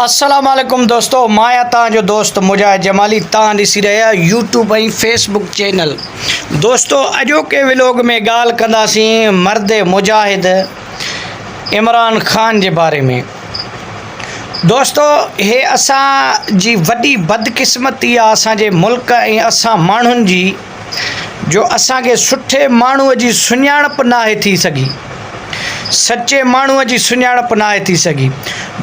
السلام عليڪم دوستو مان آهيان توهان جو دوست مجاهد جمالي توهان ڏسي رهيا آهيو يوٽيوب ۽ فيس بڪ چينل دوستو اڄوڪي ولوگ ۾ ڳالهه ڪنداسين مرد مجاهد عمران خان جي باري ۾ دوستو هي اسان جي وڏي بدقسمتي آهي اسان جي ملڪ ۽ اسان ماڻهن جي جو اسان کي سٺي ماڻهوء جي سڃاڻپ ناهي ٿي سگهي، سچي ماڻهوء جي سڃاڻپ ناهي ٿي سگهي.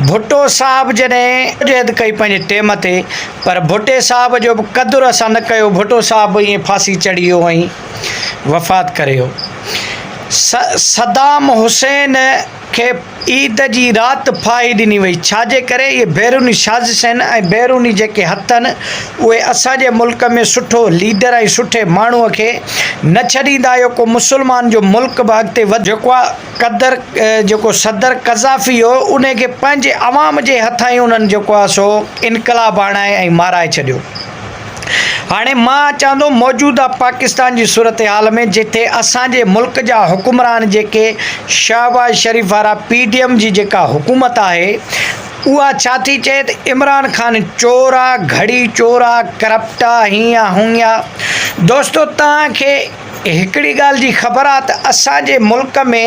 ڀٽو صاحب جڏهن جدوجهد ڪئي پنهنجي ٽيم تي پر ڀٽي صاحب جو به قدر اسان نه ڪيو، ڀٽو صاحب به ائين ڦاسي چڙهي ويو ۽ وفات ڪري ويو. صدام حسين. کي عيد جي رات ڦاهي ڏني وئي، ڇاجي ڪري اهي بيروني سازش آهن ۽ بيروني جيڪي هٿ آهن اهي اسان جي ملڪ ۾ سٺو ليڊر ۽ سٺي ماڻهو کي نه ڇڏيندا اهو ڪو مسلمان جو ملڪ به اڳتي وڌ جيڪو قدر جيڪو صدر قذافي هو انهي کي پنهنجي عوام جي هٿان ئي انهن جيڪو آهي سو انقلاب آڻائي ۽ مارائي ڇڏيو. هاڻي مان اچان ٿو موجوده پاڪستان جي صورتحال ۾ جتي اسان جي ملڪ جا حڪمران جيڪي شهباز شريف وارا پي ڊي ايم جي جيڪا حڪومت آهي اها ڇا ٿي چئي ته عمران خان چور آ گهڙي چور آ ڪرپٽ آ هينئن آ هونئن آ دوستو توهان کي هڪڙي ڳالهه جي خبر آ ته اسان جي ملڪ ۾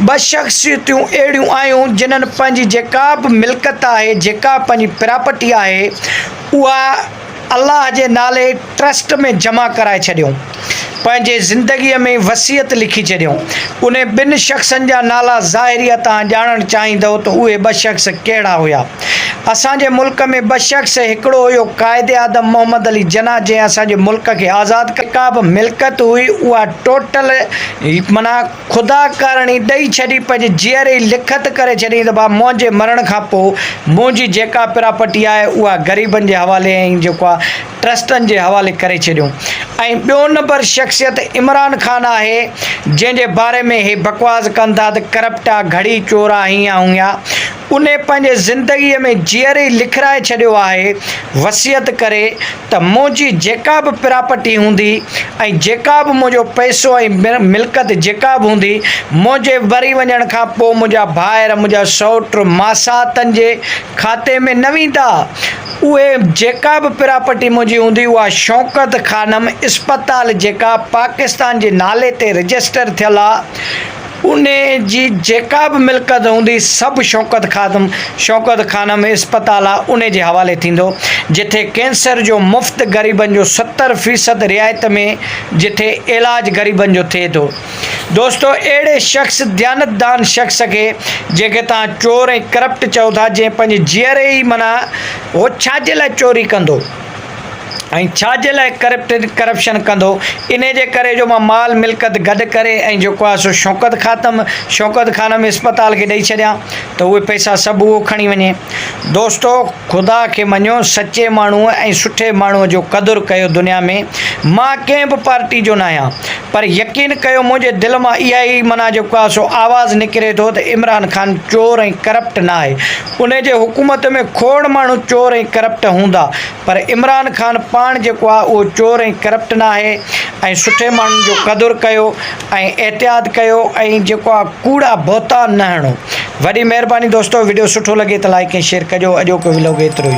ٻه شخصيتون اهڙيون آيون جنهن پنهنجي جيڪا به ملڪت آهي جيڪا پنهنجي پراپرٽي آهي اها الله جي نالي ٽرسٽ ۾ جمع ڪرائي ڇڏيون پنهنجي زندگي ۾ وصيت لکي ڇڏيون انهي ٻن شخصن جا نالا ظاهريا تهان ڄاڻڻ چاهيندؤ ته اهي ٻه شخص ڪهڙا هيا. اسان جي ملڪ ۾ ٻه شخص ۽ هڪڙو هيو قائد اعظم محمد علي جناح جنهن اسان جي ملڪ کي آزاد ڪيو. جيڪا به ملڪيت هئي اها ٽوٽل معنيٰ خدا ڪارڻي ڏئي ڇڏي پنهنجي جيئري ئي لکت ڪري ڇڏيائين ته ڀا منهنجي مرڻ کان پوء منهنجي جيڪا پراپرٽي آهي اها غريبن جي حوالي ۽ جيڪو آهي ٽرسٽن جي حوالي ڪري ڇڏيو ۽ ٻيو نمبر شخصيت عمران خان آهي جنهن جي باري ۾ هي بڪواس ڪن ٿا ته ڪرپٽ آ گهڙي چور آ هيئن آ هونئن آ انهي پنهنجي زندگيء ۾ جيئري لکرائي ڇڏيو آهي، وصيت ڪري ته منهنجي جيڪا به پراپرٽي هوندي ۽ جيڪا به منهنجو پئسو ۽ ملڪت جيڪا به هوندي، منهنجي مري وڃڻ کان پوء منهنجا ڀائر، منهنجا سئوٽ، ماساتن جي کاتي ۾ نه ويندا. اهي جيڪا به پراپرٽي منهنجي هوندي، اها شوڪت خانم اسپتال جيڪا پاڪستان جي نالي تي رجسٽر ٿيل آ، انهيء جي جيڪا به ملڪت هوندي، سڀ شوڪت خادم، شوڪت خانم، اسپتال آ انهيء جي حوالي ٿيندو، جتي ڪينسر جو مفت غريبن جو ستر فيصد رعايت ۾، جتي علاج غريبن جو ٿئي ٿو. دوستو! اهڙي شخص، ديانتدان شخص کي جنهن کي توهان چور ۽ ڪرپٽ چئو ٿا، جنهن پنهنجي جيئري ئي منع هو ڇا جي لاء چوري ڪندو؟ ۽ ڇا جي لاء ڪرپٽن ڪرپشن ڪندو انهي جي ڪري جو مان مال ملڪت گڏ ڪري ۽ جيڪو آهي سو شوڪت خاتم شوڪت خانم اسپتال کي ڏئي ڇڏيان ته اهي پئسا سڀ اهو کڻي وڃي دوستو خدا کي مڃيو سچي ماڻهو ۽ سٺي ماڻهو جو قدر ڪيو دنيا ۾ مان ڪنهن به پارٽي جو ناهيان پر يقين ڪيو منهنجي دل مان اها ئي معنيٰ جيڪو آهي سو آواز نڪري ٿو ته عمران خان چور ۽ ڪرپٽ ناهي انهي جي حڪومت ۾ کوڙ ماڻهو چور ۽ ڪرپٽ هوندا پر عمران خان پاڻ جيڪو آهي اهو چور ۽ ڪرپٽ ناهي ۽ سٺي ماڻهن جو قدر ڪيو ۽ احتياط ڪيو ۽ جيڪو آهي ڪوڙا بهتان نه هڻو وڏي مهرباني دوستو وڊيو سٺو لڳي ته لائڪ ۽ شيئر ڪجو اڄوڪو ولوگ ايترو ئي هو.